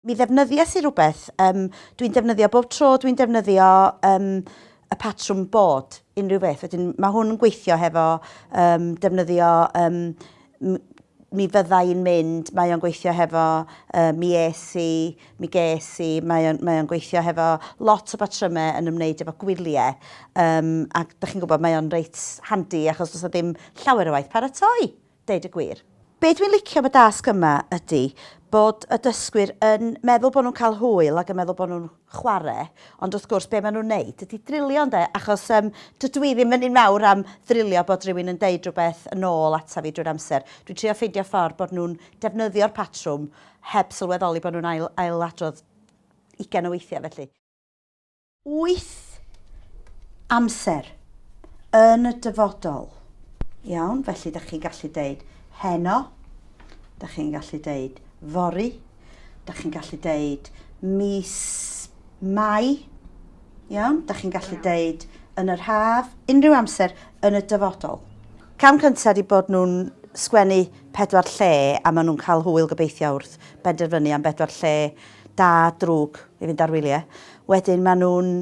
mi ddefnyddies i rhywbeth, um, dwi'n defnyddio bob tro, dwi'n defnyddio um, y patrwm bod unrhyw beth. Wedyn, mae hwn yn gweithio hefo um, defnyddio um, mi fydda i'n mynd, mae o'n gweithio hefo uh, mi es i, mi ges i, mae o'n, mae o'n gweithio hefo lot o batrymau yn ymwneud efo gwyliau, um, ac da chi'n gwybod mae o'n reit handi achos does ddim llawer o waith paratoi, deud y gwir. Be dwi'n licio am y dasg yma ydy bod y dysgwyr yn meddwl bod nhw'n cael hwyl ac yn meddwl bod nhw'n chware ond wrth gwrs be ma' nhw'n neud ydi drilio ynde achos yym dydw i ddim yn un mawr am ddrilio bod rhywun yn deud rhywbeth yn ôl ata fi drwy'r amser dwi'n trio ffeindio ffordd bod nhw'n defnyddio'r patrwm heb sylweddoli bod nhw'n ail ail adrodd ugain o weithiau felly wyth amser yn y dyfodol iawn felly dach chi'n gallu deud heno dach chi'n gallu deud fory da chi'n gallu deud mis Mai, iawn, da chi'n gallu deud yn yr haf, unrhyw amser yn y dyfodol. Cam cyntaf di bod nhw'n sgwennu pedwar lle a maen nhw'n cael hwyl gobeithio wrth benderfynu am bedwar lle da, drwg i fynd ar wyliau. Wedyn maen nhw'n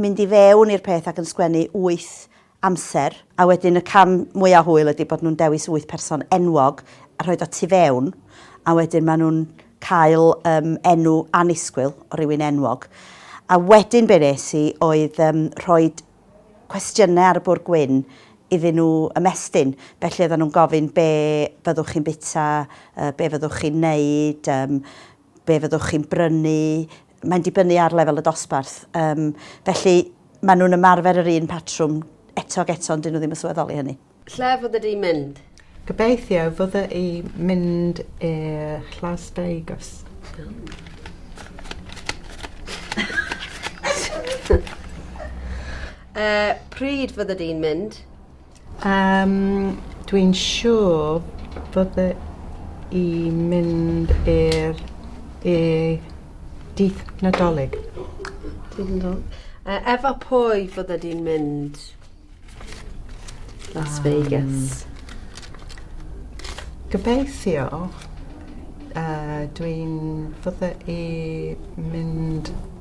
mynd i fewn i'r peth ac yn sgwennu wyth amser, a wedyn y cam mwya' hwyl ydi bod nhw'n dewis wyth person enwog a rhoid o tu fewn, a wedyn ma' nhw'n cael yym enw annisgwyl o rywun enwog. A wedyn be' nes i oedd yym rhoid cwestiyne ar y bwr' gwyn iddyn nhw ymestyn, felly oeddan nhw'n gofyn be' fyddwch chi'n bita, yy be' fyddwch chi'n neud, yym Be fyddwch chi'n brynu? Mae'n dibynnu ar lefel y dosbarth. Yym, felly, maen nhw'n ymarfer yr un patrwm eto ac eto, ond dyn nhw ddim yn sylweddol i hynny. Lle fyddi di mynd? Gobeithio fydda i mynd i'r Las Vegas. Yy, pryd fyddi di'n mynd? Yym, dwi'n siwr fydda i mynd i'r i dydd Nadolig. Dydd Nadol. E- efo pwy fydda di'n mynd? Las Vegas. Gobeithio yy dwi'n fydda i mynd